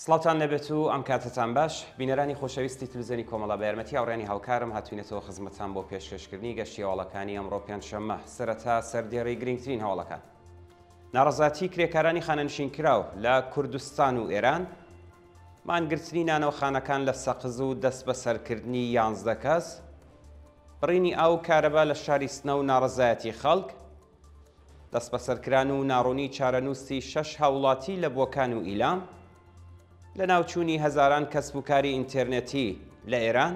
سڵاوان لەبێت و ئەم کاتتان باش بینەرانی خۆشەویستی تلوزیۆنی کۆمەڵە بە یارمەتی هاوڕێنی هاوکارم هاتوینەتەوە خزمەتان بۆ پێشکەشکردنی گەشتی هەوڵەکانی ئەمڕۆ پێنجشەممە سەرەتا سەردێڕی گرنگترین هەوڵەکان ناڕەزایەتیی کرێکارانی خانەنشینکراو لە کوردستان و ئێران، مانگرتنی نانەوەخانەکان لە سەقز و دەستبەسەرکردنی یانزدە کەس، بڕینی ئاو و کارەبا لە شاری سنە و ناڕەزایەتیی خەڵک، دەستبەسەرکران و ناڕوونیی چارەنووسی شەش هاوڵاتی لە بۆکان و ئیلام، لەناوچوونی هەزاران کەسب و کاری ئینتێرنێتی لە ئێران،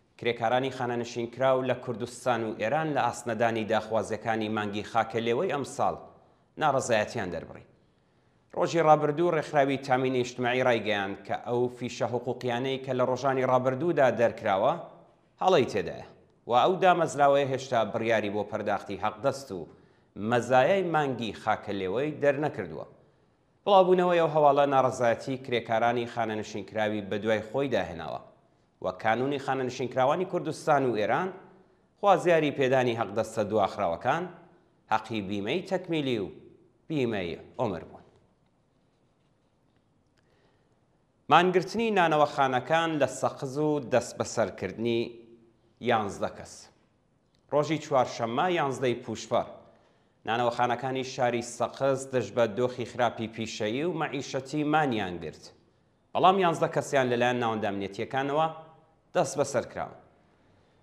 کرێکارانی خانەنشینکراو لە کوردستان و ئێران لە ئاست نەدانی داخوازییەکانی مانگی خاکەلێوەی ئەمساڵ ناڕەزایەتییان دەربڕی. ڕۆژی ڕابردوو ڕێکخراوی تامینی ئیجتماعی ڕایگەیاند کە ئەو فیشە حقووقییانەی کە لە ڕۆژانی ڕابردوودا دەرکراوە هەڵەی تێدایە و ئەو دامەزراوەیە هێشتا بڕیاری بۆ پەرداختی حەقدەست و مەزایای مانگی خاکەلێوەی دەرنەکردووە. بڵاوبوونەوەی ئەو هەواڵە ناڕەزایەتی کرێکارانی خانەنشینکراوی بەدوای خۆیدا هێناوە. و کانونی خانەنشینکراوانی کوردستان و ئێران، خوازیاری پێدانی هەقدەستە دواخراوەکان، هەقی بیمەی تەکمیلی و بیمەی عومر بوون. مانگرتنی نانەوەخانەکان لە سەقز و دەستبەسەرکردنی یانزدە کەس ڕۆژی چوارشەممە یانزدەی پوشپەر نانەوەخانەکانی شاری سەقز دژ بە دۆخی خراپی پیشەیی و مەعیشەتی مانیان گرت بەڵام یانزدە کەسیان لەلایەن ناوەندە ئەمنیەتییەکانەوە دەستبەسەر کراون.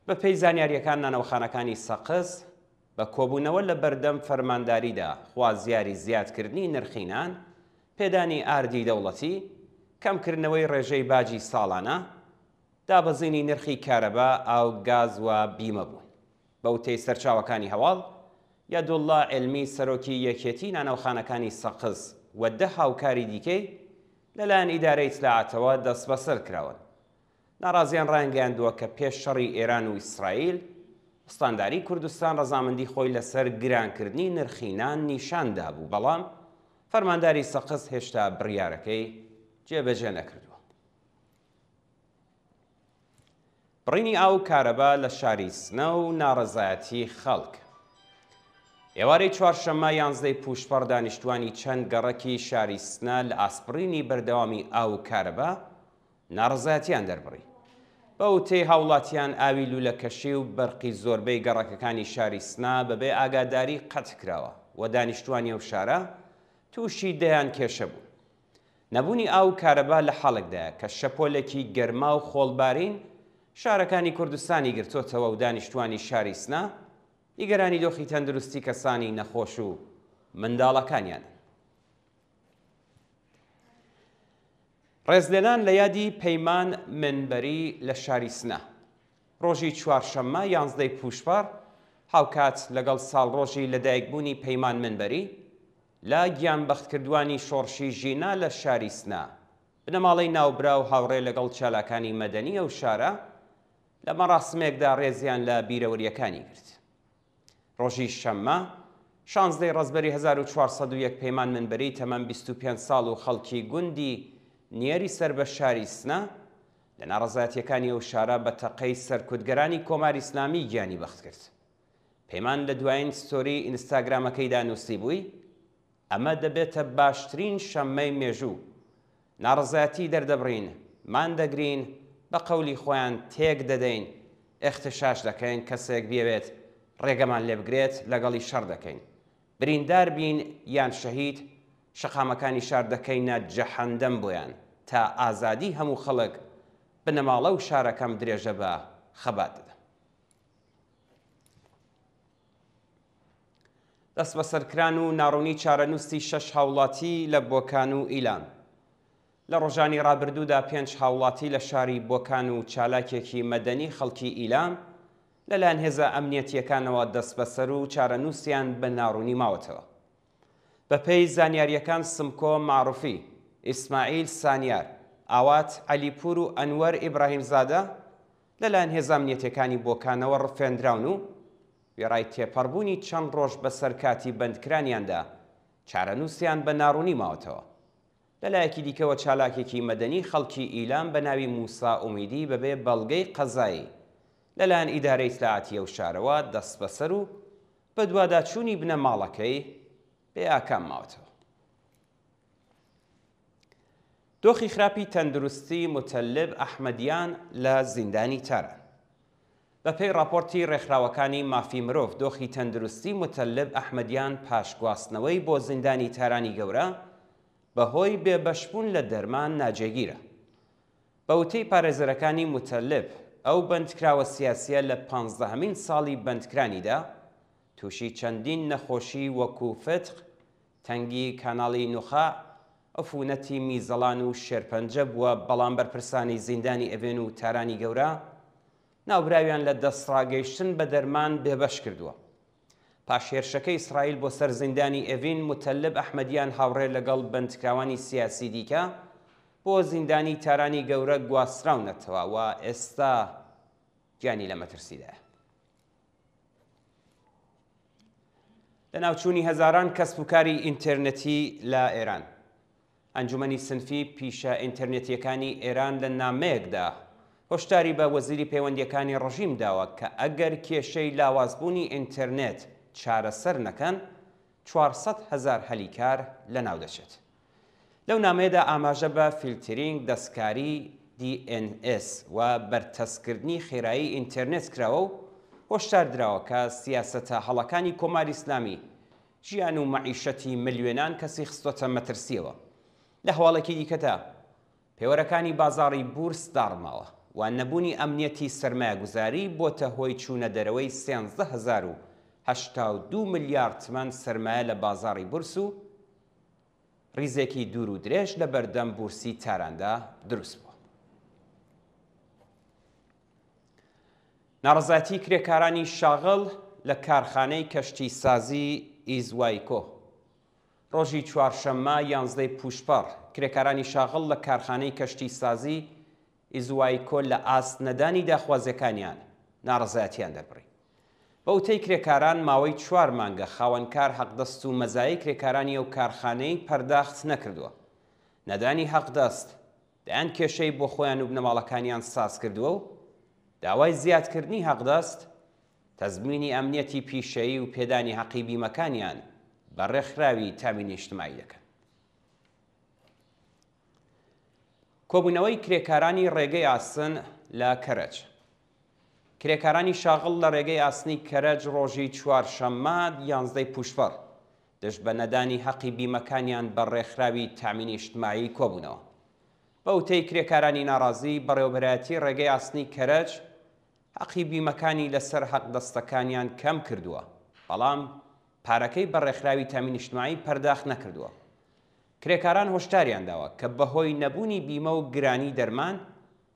بەپێی زانیارییەکان نانەوەخانەکانی سەقز بە کۆبوونەوە لە بەردەم فەرمانداریدا خوازیاری زیادکردنی نرخی نان، پێدانی ئاردی دەوڵەتی، کەمکردنەوەی ڕێژەی باجی ساڵانە، دابەزینی نرخی کارەبا، ئاو، گاز و بیمە بوون. بەوتەی سەرچاوەکانی هەواڵ، یەدوڵڵا عیلمی سەرۆکی یەکێتی نانەوخانەکانی سەقز و دە هاوکاری دیکەی لەلایەن ئیدارەی ئیتلاعاتەوە دەستبەسەر کراون. ناڕازیان ڕایانگەیاندووە کە پێش شەڕی ئێران و ئیسرائیل، ئوستانداری کوردستان ڕەزامەندی خۆی لەسەر گرانکردنی نرخی نان نیشان دابوو، بەڵام فەرمانداری سەقز هێشتا بڕیارەکەی جێبەجێ نەکردووە. بڕینی ئاو و کارەبا لە شاری سنە و ناڕەزایەتی خەڵک. ئێوارەی چوارشەممە یانزدەی پووشپەڕ دانیشتوانی چەند گەڕەکی شاری سنە لە ئاسپڕینی بەردەوامی ئاو و کارەبا ناڕەزایەتیان دەربڕی. بە وتەی هاوڵاتیان ئاوی لوولەکەشی و بەرقی زۆربەی گەڕەکەکانی شاری سنە بەبێ ئاگاداری قەتعکراوە و دانیشتوانی ئەو شارە تووشی دەیان کێشە بوون. نەبوونی ئاو و کارەبا لە حاڵێکدایە کە شەپۆلێکی گەرما و خۆڵبارین شارەکانی کوردستانی گرتۆتەوە و دانیشتوانی شاری سنە نیگەرانی دۆخی تەندروستی کەسانی نەخۆش و منداڵەکانیان. ڕێزلێنان لە یادی پەیمان منبەری لە شاری سنە ڕۆژی چوارشەممە یانزدەی پوشپەڕ هاوکات لەگەڵ ساڵڕۆژی لەدایکبوونی پەیمان منبەری لە گیانبەختکردوانی شۆڕشی ژینا لە شاری سنە، بنەماڵەی ناوبراو هاوڕێ لەگەڵ چالاکانی مەدەنی ئەو شارە لە مەڕاسمێکدا ڕێزیان لە بیرەوەرییەکانی گرت. ڕۆژی شەممە، شانزدە ی ڕەزبەری هەزار و چوار سەد و یەک پەیمان منبری تەمەن بیست و پێنج ساڵ و خەڵکی گوندی نیەری سەر بە شاری سنە، لە ناڕەزایەتییەکانی ئەو شارە بە تەقەی سەرکوتگەرانی کۆماری ئیسلامی گیانی بەختکرد. پەیمان لە دوایین ستۆری ئینستاگرامەکەیدا نووسیبووی، ئەمە دەبێتە باشترین شەممەی مێژوو، ناڕەزایەتی دەردەبڕین، مان دەگرین، بە قەولی خۆیان تێک دەدەین، ئیغتشاش دەکەین، کەسێک بیەوێت ڕێگەمان لێ بگرێت لەگەڵی شەڕ دەکەین، بریندار بین یان شەهید، شەقامەکانی شار دەکەینە جەهەندەم بۆیان، تا ئازادی هەموو خەڵک، بنەماڵە و شارەکەم درێژە بە خەبات دەدەم. دەستبەسەرکران و ناڕوونی چارەنووسی شەش هاوڵاتی لە بۆکان و ئیلام لە ڕۆژانی ڕابردوودا پێنج هاوڵاتی لە شاری بۆکان و چالاکێکی مەدەنی خەڵکی ئیلام لەلایەن هێزە ئەمنیەتیەکانەوە دەست بەسەر و چارەنووسیان بە ناڕوونی ماوەتەوە بەپێی زانیاریەکان سمکۆ معروفی ئیسماعیل سانیار ئاوات عەلیپور و ئەنوەر ئیبراهیم زادە لەلایەن هێزە ئەمنیەتیەکانی بۆکانەوە ڕفێندراون و وێڕای تێپەڕبوونی چەند ڕۆژ بەسەر کاتی بەندکرانیاندا، چارەنووسیان بە ناڕوونی ماوەتەوە. لەلایەکی دیکەوە چالاکێکی مەدەنی خەڵکی ئیلام بە ناوی موسا ئومیدی بەبێ بەڵگەی قەزایی لەلایەن ئیدارەی ئیتلاعاتی ئەو شارەوە دەستبەسەر و بەدواداچوونی بنەماڵەکەی بێئاکام ماوەتەوە. دۆخی خراپی تەندروستی متەلب ئەحمەدیان لە زیندانی تاران بەپێی ڕاپۆرتی ڕێکخراوەکانی مافی مرۆڤ دۆخی تەندروستی متەلب ئەحمەدیان پاش گواستنەوەی بۆ زیندانی تارانی گەورە بەهۆی بێبەشبوون لە دەرمان ناجێگیرە بە وتەی پارێزەرەکانی متەلب ئەو بەندکراوە سیاسیە لە پانزدەهەمین ساڵی بەندکرانیدا توشی چەندین نەخۆشی وەکو فتق، تەنگی کاناڵی نوخاع، عفونەتی میزەڵان و شێرپەنجە بووە بەڵام بەرپرسانی زیندانی ئەڤێن و تارانی گەورە ناوبراویان لە دەستڕاگەیشتن بە دەرمان بێبەش کردووە. پاش هێرشەکەی ئیسرائیل بۆ سەر زیندانی ئەڤین موتەلب ئەحمەدیان هاوڕێ لەگەڵ بەندکراوانی سیاسی دیکە بۆ زیندانی تارانی گەورە گواستراونەتەوە و ئێستا گیانی لە مەترسیدایە. لەناوچوونی هەزاران کەسب و کاری ئینتەرنەتی لە ئێران ئەنجومەنی سنفی پیشە ئینتەرنێتیەکانی ئێران لە نامەیەکدا هۆشداری بە وەزیری پەیوەندیەکانی ڕژیم داوە کە ئەگەر کێشەی لاوازبوونی ئینتەرنێت چارەسەر نەکەن چوار سەد هەزار هەلی کار لەناو دەچێت. لەو نامەیەدا ئاماژە بە فیلترینگ، دەستکاری، DNS، و بەرتەسککردنی خێرایی ئینتێرنێت کراوە و هۆشدار دراوە کە سیاسەتە هەڵەکانی کۆماری ئیسلامی ژیان و مەعیشەتی ملیۆنان کەسی خستووەتە مەترسییەوە. لە هەواڵێکی دیکەدا، پێوەرەکانی بازاڕی بورس داڕماوە و نەبوونی ئەمنیەتی سەرمایەگوزاری بۆتە هۆی چوونە دەرەوەی سێزدە هەزار و هەشتا و دوو ملیار تمەن سەرمایە لە بازاڕی بورس و ریزێکی دوور و درێژ لە بەردەم بورسی تاراندا دروست بووە. ناڕەزایەتی کرێکارانی شاغڵ لە کارخانەی کەشتی سازی ئیزوایکۆ ڕۆژی چوارشەممە یانزدەی پووشپەڕ، کرێکارانی شاغڵ لە کارخانەی کەشتیسازی ئیزوایکۆ لە ئاست نەدانی داخوازییەکانیان ناڕەزایەتییان دەربڕی. بە وتەی کرێکاران ماوەی چوار مانگە خاوەنکار حەقدەست و مەزایای کرێکارانی ئەو کارخانەی پەرداخت نەکردووە. نەدانی حەقدەست دەیان کێشەی بۆ خۆیان و بنەماڵەکانیان سازکردووە و داوای زیادکردنی حەقدەست تەزمینی ئەمنیەتی پیشەیی و پێدانی هەقی بیمەکانیان بە ڕێکخراوی تامینی نیشتمایی دەکەن. کۆبوونەوەی کرێکارانی ڕێگەی ئاسن لە کەرەج کرێکارانی شاغڵ لە ڕێگەی ئاسنی کەرەج ڕۆژی چوار شەممە یانزدەی پوشپەڕ دژ بە نەدانی هەقی بیمەکانیان بە ڕێکخراوی تامینی نیشتمایی کۆبوونەوە بە وتەی کرێکارانی ناڕازی بەڕێوەبەرایەتی ڕێگەی ئاسنی کەرەج هەقی بیمەکانی لەسەر هەقدەستەکانیان کەم کردووە، بەڵام پارەکەی بە ڕێکخراوی تامین اجتماعی پەرداخ نەکردووە. کرێکاران هۆشداریان داوە کە بەهۆی نەبوونی بیمە و گرانی دەرمان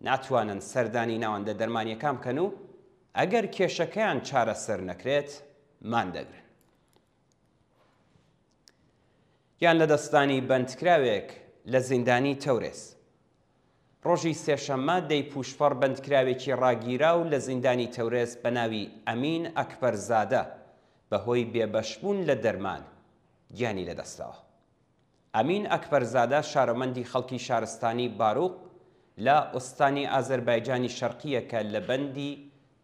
ناتوانن سەردانی ناوەندە دەرمانییەکان بکەن و ئەگەر کێشەکەیان چارەسەر نەکرێت ماندەگرن. یان لە دەستدانی بەندکراوێک لە زیندانی تەورێز. ڕۆژی سێشەممە دەی پوشپەڕ بەندکراوێکی ڕاگیرا و لە زیندانی تەورێز بە ناوی ئەمین ئەکبەرزادە بەهۆی بێبەشبوون لە دەرمان گیانی لەدەستەوە. ئەمین ئەکبەرزادە شارۆمەندی خەڵکی شارستانی باروق لە ئوستانی ئازەربایجانی شەرقییە کە لە بەندی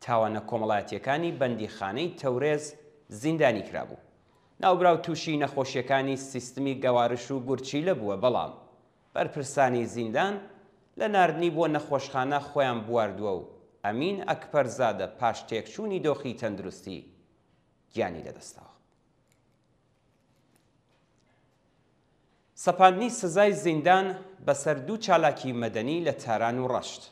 تاوانە کۆمەڵایەتییەکانی بەندیخانەی تەورێز زیندانی کرابوو. ناوبراو تووشی نەخۆشییەکانی سیستمی گەوارش و گورچیلە بووە بەڵام بەرپرسانی زیندان لە ناردنی بۆ نەخۆشخانە خۆیان بواردووە و ئەمین ئەکبەرزادە پاش تێکچوونی دۆخی تەندروستی گیانی لەدەستداوە. سەپاندنی سزای زیندان بەسەر دوو چالاکی مەدەنی لە تاران و ڕەشت.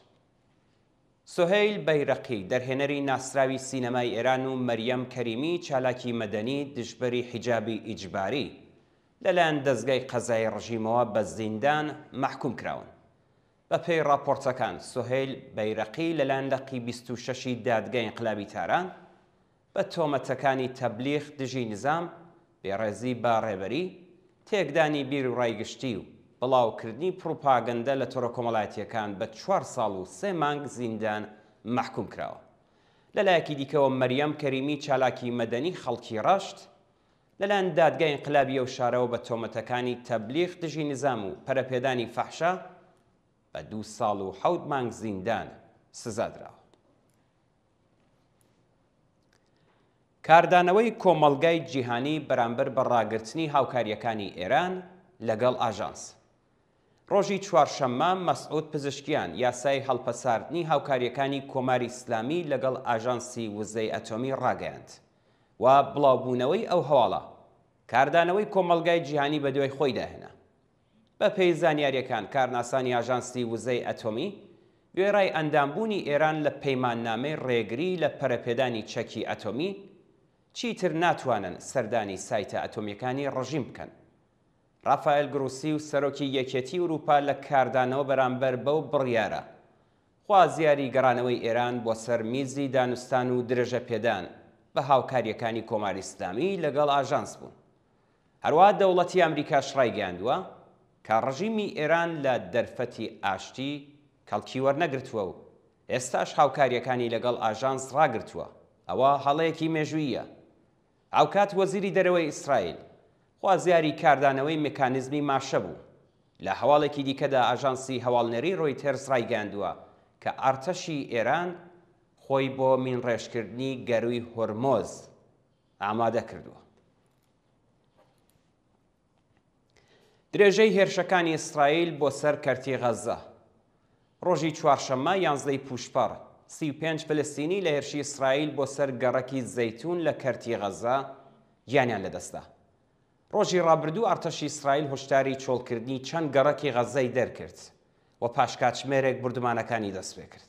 سوهەیل بەیرەقی دەرهێنەری ناسراوی سینەمای ئێران و مەریەم کەریمی چالاکی مەدەنی دژبەری حیجابی ئیجباری لەلایەن دەزگای قەزای ڕژیمەوە بە زیندان مەحکوم کراون. بەپێی ڕاپۆرتەکان سوهەیل بەیرەقی لەلایەن لقی 26 ی دادگای ئینقلابی تاران بە تۆمەتەکانی تەبلیغ دژی نزام، بێڕێزی بە ڕێبەری، تێکدانی بیروڕای گشتی و بڵاوکردنی پڕوپاگەندە لە تۆڕە کۆمەڵایەتییەکان بە چوار ساڵ و سێ مانگ زیندان مەحکووم کراوە. لە لایەکی دیکەوە مەریەم کەریمی چالاکی مەدەنی خەڵکی ڕەشت، لەلایەن دادگای ئینقلابی ئەو شارەوە بە تۆمەتەکانی تەبلیغ دژی نزام و پەرەپێدانی فەحشا بە دوو ساڵ و حەوت مانگ زیندان سزا دراوە. کاردانەوەی کۆمەڵگای جیهانی بەرامبەر بە ڕاگرتنی هاوکاریەکانی ئێران لەگەڵ ئاژانس. ڕۆژی چوارشەممە مەسعود پزشکیان یاسای هەڵپەساردنی هاوکاریەکانی کۆماری ئیسلامی لەگەڵ ئاژانسی وزەی ئەتۆمی ڕاگەیاند و بڵاوبوونەوەی ئەو هەواڵە کاردانەوەی کۆمەڵگای جیهانی بەدوای خۆی داهێنا. بەپێی زانیارییەکان، کارناسانی ئاژانسی وزەی ئەتۆمی، وێڕای ئەندامبوونی ئێران لە پەیماننامەی ڕێگری لە پەرەپێدانی چەکی ئەتۆمی، چیتر ناتوانن سەردانی سایتە ئەتۆمییەکانی ڕژیم بکەن. ڕافائێل گروسی و سەرۆکی یەکێتی ئورووپا لە کاردانەوە بەرامبەر بەو بڕیارە، خوازیاری گەڕانەوەی ئێران بۆ سەر میزی دانوستان و درێژەپێدان بە هاوکارییەکانی کۆماری ئیسلامی لەگەڵ ئاژانس بوون. هەروەها دەوڵەتی ئامریکاش ڕایگەیاندووە کە ڕژیمی ئێران لە دەرفەتی ئاشتی کەڵکی وەرنەگرتووە و ئێستاش هاوکارییەکانی لەگەڵ ئاژانس ڕاگرتووە، ئەوە هەڵەیەکی مێژووییە. هاوکات وەزیری دەرەوەی ئیسرائیل خوازیاری کاردانەوەی مکانیزمی ماشە بوو. لە هەواڵێکی دیکەدا ئاژانسی هەواڵنێری ڕۆیتێرز ڕایگەیاندووە کە ئەرتەشی ئێران خۆی بۆ مینڕێژکردنی گەرووی هۆرمۆز، ئامادە کردووە. درێژەی هێرشەکانی ئیسرائیل بۆ سەر کەرتی غەززە ڕۆژی چوارشەممە یانزدەی پوشپەڕ سی و پێنج فلستینی لە هێرشی ئیسرائیل بۆ سەر گەڕەکی زەیتون لە کەرتی غەززە گیانیان لەدەستدا ڕۆژی ڕابردوو ئەرتەشی ئیسرائیل هۆشداری چۆڵکردنی چەند گەڕەکی غەززەی دەرکرد و پاشکاتژمێرێک بردومانەکانی دەستپێکرد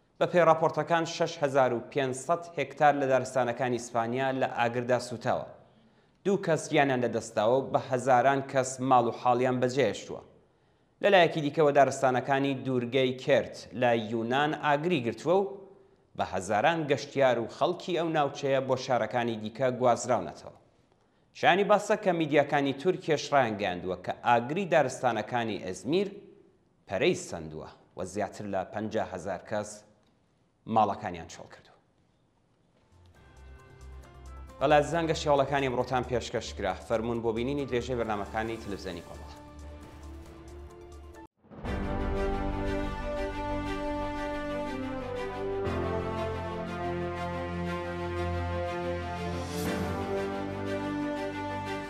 بەپێی ڕاپۆرتەکان شەش هەزار و پێنج سەد هێکتار لە دارستانەکانی ئیسپانیا لە ئاگردا سووتاوە، دوو کەس گیانیان لەدەستداوە و بە هەزاران کەس ماڵ و حاڵیان بەجێهێشتووە. لەلایەکی دیکەوە دارستانەکانی دوورگەی کێرت لە یونان ئاگری گرتووە و بە هەزاران گەشتیار و خەڵکی ئەو ناوچەیە بۆ شارەکانی دیکە گوازراونەتەوە. شایانی باسە کە میدیاکانی تورکیەش ڕایانگەیاندووە کە ئاگری دارستانەکانی ئێزمیر پەرەی سەندووە و زیاتر لە پەنجا هەزار کەس ماڵەکانیان چۆڵکردووە. بەڵا زەنگە شێوەڵەکانی ئەمڕۆتان پێشکەش کرا فەرمونون بۆ بینینی درێژەی بەرنمەکانی تلوزیۆنی کۆمەڵ.